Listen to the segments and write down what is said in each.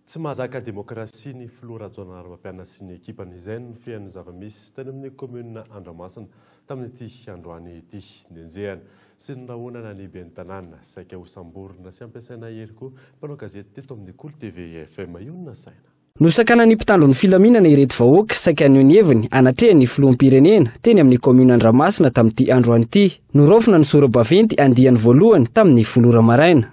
Tsy mahazaka demokrasia ny filoha Rajaonarimampianina sy ny ekipany. Izay no nifehan'ny zava-misy tany amin'ny kaominina Andramasina tamin'ity androany ity. Nenjehana sy norahonana ny ben'ny tanàna. Saika hosamborina sy hampiasaina hery koa ny mpanao gazety teto amin'ny Kolo TV FM. Io no nasaina. Nosakanan'ny mpitandro ny filaminana ireto vahoaka saika haneho ny heviny hanatrehany ny filoham-pirenena teny amin'ny kaominina Andramasina tamin'ity androany ity. Noraofina ny sora-baventy andiany voalohany tamin'ny folo ora maraina.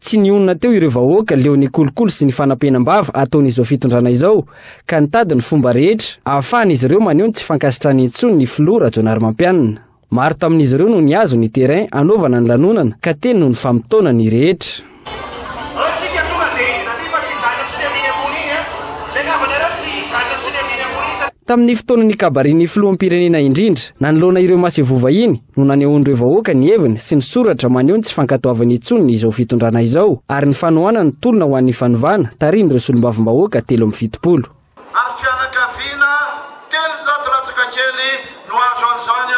Tsy nionona teo ireo vahoaka leo ny kolikoly sy ny fanapenam-bava ataon'izao fitondrana izao ka nitady ny fomba rehetra ahafahan'izy ireo maneho ny tsy fankasitrahany intsony ny filoha Rajaonarimampianina. Maro tamin'izy ireo no nihazo ny terrain hanaovana ny lanonana ka teny no nifamotoana ny rehetra. Tamin'ny fotoana nikabarin'ny filoham-pirenena indrindra nanoloana ireo masevovahiny, no nanehoan'ireo vahoaka ny heviny sy ny soratra maneho ny tsy fankatoavany intsony izao fitondrana izao ary ny fanohanany ny tolona ho an'ny fanovana tarihin'ireo solombavambahoaka telo amby fitopolo Ary fianakaviana telonjato latsaka kely no azo an'izany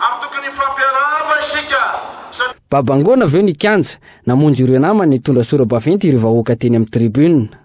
ary tokony hifampiarahaba isika satria. Babangoana avy eo ny kianja, namonjy ireo namany nitondra sora-baventy ireo vahoaka teny amin'ny tribune.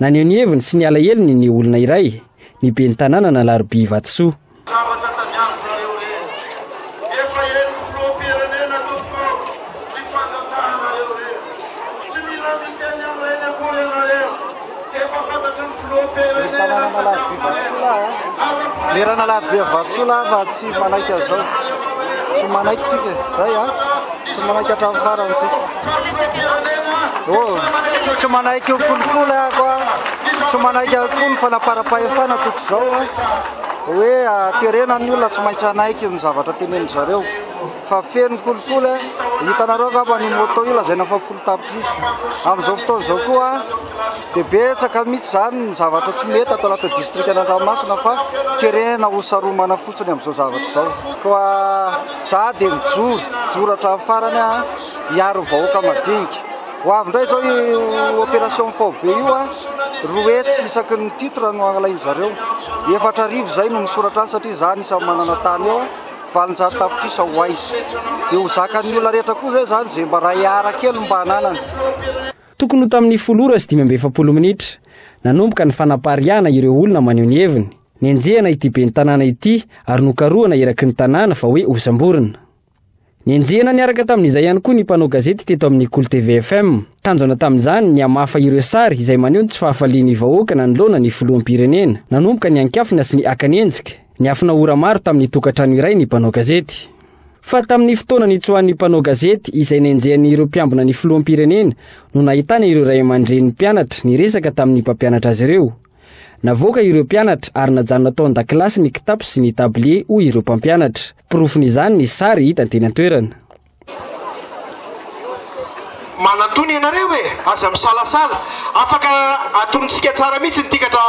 Naneho ny heviny sy ny alahelony ny olona iray, ny ben'ny tanàna an'Alarobia Ivato-soa. Zavatra tadiaviko nareo rehetra. Efa henoko filoham-pirenena tompoko ao tsy fantatrahanareo rery. Tsy mila miteny amin'ireny akory ianareo. Efa fantatry ny filoham-pirenena ny sakafo maraina. Merana Alarobia Ivato-soa lahy fa tsy manaiky an'izao. Tsy manaiky tsika. Zay an. Tsy manaiky hatramin'ny farany tsika. Tsy manaiky ho kolikoly ako a, tsy manaiky akoho ny fanaparam-pahefana toko izao a. Hoe aterena ny olona tsy maintsy hanaiky ny zavatra tenenin zareo. Fa feno kolikoly a, hitanareo angamba ny moto io lazaina fa folo tapitrisa. Amin'izao fotoana izao koa dia betsaka mihitsy izany ny zavatra tsy mety ato anatin'ny distrikan'Andranomasina fa terena ho saromana fotsiny amin'izao zavatra izao. Koa za dia mijoro, mijoro hatramin'ny farany a. hiaro ny vahoaka madinika. Ho avy indray izao io opération faobe io a, roa hetsy isaky ny titre no alain-dry zareo. Efatra arivo izay no misoratra any satria izaho anisan'ny manana tany eo, valonjato tapitrisa ho aiza. Dia ho zakan'ny olona rehetra koa izay izany izay mba ray ara kely mba ananany. Tokony ho tamin'ny folo ora sy dimy amby efapolo minitra, nanomboka ny fanapariahana ireo olona maneho ny heviny. Nenjehina ity ben'ny tanàna ity ary nokarohana eraky ny tanàna fa hoe hosamborina. Nenjehina niaraka tamin'izay ihany koa ny mpanao gazety teto amin'ny Kolo TV FM. Tanjona tamin'izany ny hamafa ireo sary izay maneho ny tsy fahafalian'ny vahoaka nanoloana ny filoham-pirenena. Nanomboka niankiafina sy niakany enjika, niafina ora maro tamin'ny tokantrano iray ny mpanao gazety. Fa tamin'ny fotoana nitsoahan'ny mpanao gazety izay nenjehany ireo mpiambina ny filoham-pirenena no nahitana ireo ray aman-drenin'ny mpianatra niresaka tamin'ny mpampianatra azy ireo. Navoaka ireo mpianatra ary najanona tao an-dakilasy ny kitapo sy ny tablie hoy ireo mpampianatra. Porofon'izany ny sary hita teny an-toerana. Manantony ianareo e! Aza misalasala. Afaka atonontsika tsara mihitsy ny tikatra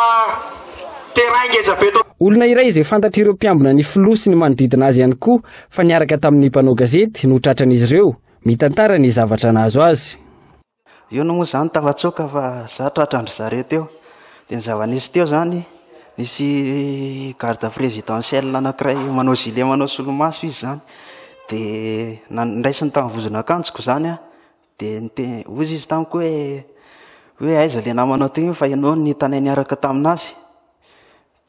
terrain ngeza be eto. Olona iray izay fantatr'ireo mpiambina ny filoha sy ny manodidina azy ihany koa fa niaraka tamin'ny mpanao gazety no tratran'izy ireo, mitantara ny zavatra nahazo azy. Inona moa izany tafatsoaka fa za tratra an-dry zareo teo. Dia ny zava-nisy teo izany, nisy garde présidentiel anankiray manao gilet manao solomaso izy izany, dia nan- niraisiny tamin'ny vozon'akanjoko izany aho, dia nite- hoy izy tamiko hoe hoe aiza ilay namanao teo iny fa ianao no nitanay niaraka tamin'azy?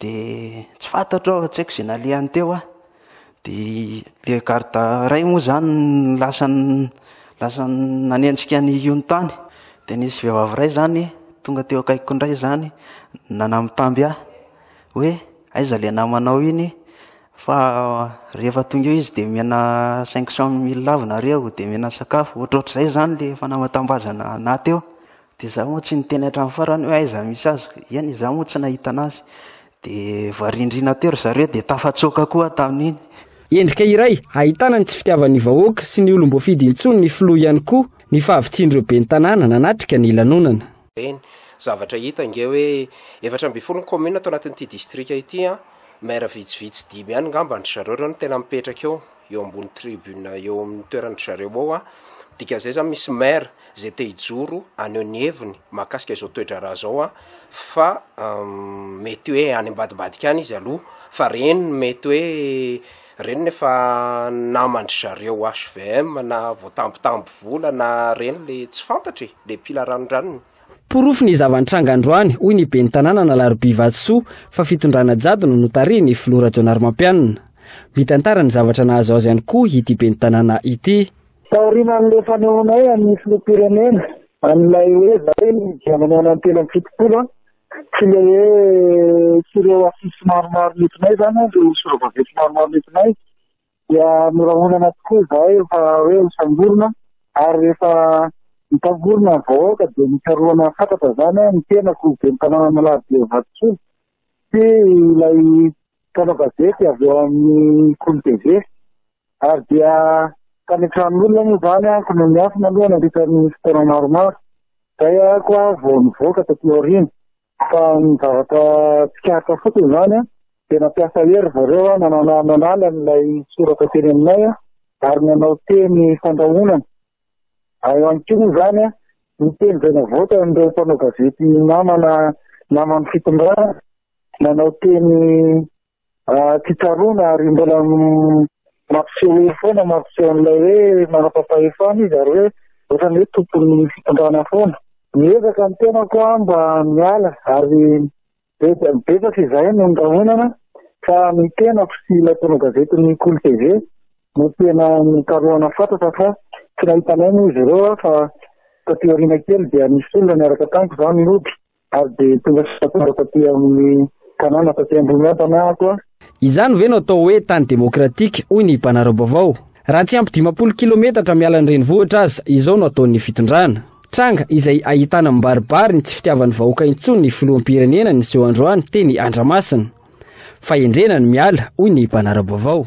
Dia tsy fantatro aho, tsy haiko izay nalehany teo aho. Dia ilay garda iray moa izany no lasa lasa nanenjika an'i Yun tany. Dia nisy vehivavy iray izany tonga teo akaikiko indray izany nanamitamby ahy hoe aiza ilay namanao iny fa rehefa tonga eo izy dia omena cinq cent mille avy nareo dia omena sakafo, ohatrohatr'izay izany ilay fanamatam-bazana naha teo. Dia za moa tsy niteny hatramin'ny farany hoe aiza misy azy, eny za moa tsy nahita anazy. Dia varindrina teo ry zareo dia tafatsoaka koa tamin'iny. Endrika iray ahitana ny tsy fitiavan'ny vahoaka sy ny olom-boafidy intsony ny filoha ihany koa ny fahavitsian'ireo ben'ny tanàna nanatrika ny lanonana. Ireny zavatra hita ange hoe efatra ambin'ny folo ny commune ato anatin'ity distrika ity an! Maire vitsivitsy dimy ihany ngamba an-dry zareo ireo no tena mipetraka eo, eo ambony tribune eo amin'ny toeran-dry zareo eo an! Dikan'izay izany misy maire izay te hijoro haneho ny heviny mahakasika izao toe-draharaha izao aho fa mety hoe any ambadibadika any izy aloha fa reniny mety hoe reniny efa naman-dry zareo HVM na voatambitamby vola na reny le tsy fantatra e, le mpila ranondranony. Porofo ny zava-nitranga androany, hoy ny ben'ny tanàna an'Alarobia Vatosoa, fa fitondrana jaddo no notarihin'ny filoha Rajaonarimampianina. Mitantara ny zavatra nahazo azy ihany koa ity ben'ny tanàna ity. Taorian'ilay fanehoanay an'ny filoham-pirenena an'ilay hoe zary ny dia manao ny telo amby fitopolo sy ilay hoe sy ireo afisy maromaro nentinay izany an, ireo sora-baventy maromaro nentinay dia norahonana tokoa izahay fa hoe ho samborina ary rehefa nitangorona ny vahoaka dia nikarohana fatratra izany an, ny tenako, ben'ny tanàna Analaribeo Vatosoa sy ilay mpanao gazety avy ao amin'ny Kolo TV. Ary dia tany an-tranon'olona moa izany aho no niafina aloha nandritra ny fotoana maromaro. Izay aho vao nivoaka taty aoriana. Fa ny zavatra tsikaritra fotsiny izany dia nampiasa hery ry zareo nanala an'ilay soratra teny aminay ary nanao teny fandrahonana. Ao ihany koa moa izany ny teny izay navoakan'ireo mpanao gazety namana naman'ny fitondrana, nanao teny Tsy tsaroana ary mbola mampiseho hery foana, mampiseho an'ilay hoe manam-pahefana izy ary hoe ohatrany hoe tompon'ny fitondrana foana. Miezaka ny tenako mba miala ary betsaka izahay no nirahonana fa ny tenako sy ilay mpanao gazety ny Kolo TV no tena nokarohana fatratra fa tsy nahitanay moa izy ireo fa taty aoriana kely dia nisy olona niaraka tamiko izany nody Ary dia tonga sy tafara taty amin'ny tanàna taty Ambohimiadana aho koa. Izany ve no atao hoe tany demokratika, hoy ny mpanara-baovao. Raha tsy ampy dimampolo kilometatra miala ny renivohitra aza izao no ataon'ny fitondrana. Tranga izay ahitana mibaribary ny tsy fitiavan'ny vahoaka intsony ny filoham-pirenena niseho androany teny Andramasina. Fahendrena ny miala, hoy ny mpanara-baovao.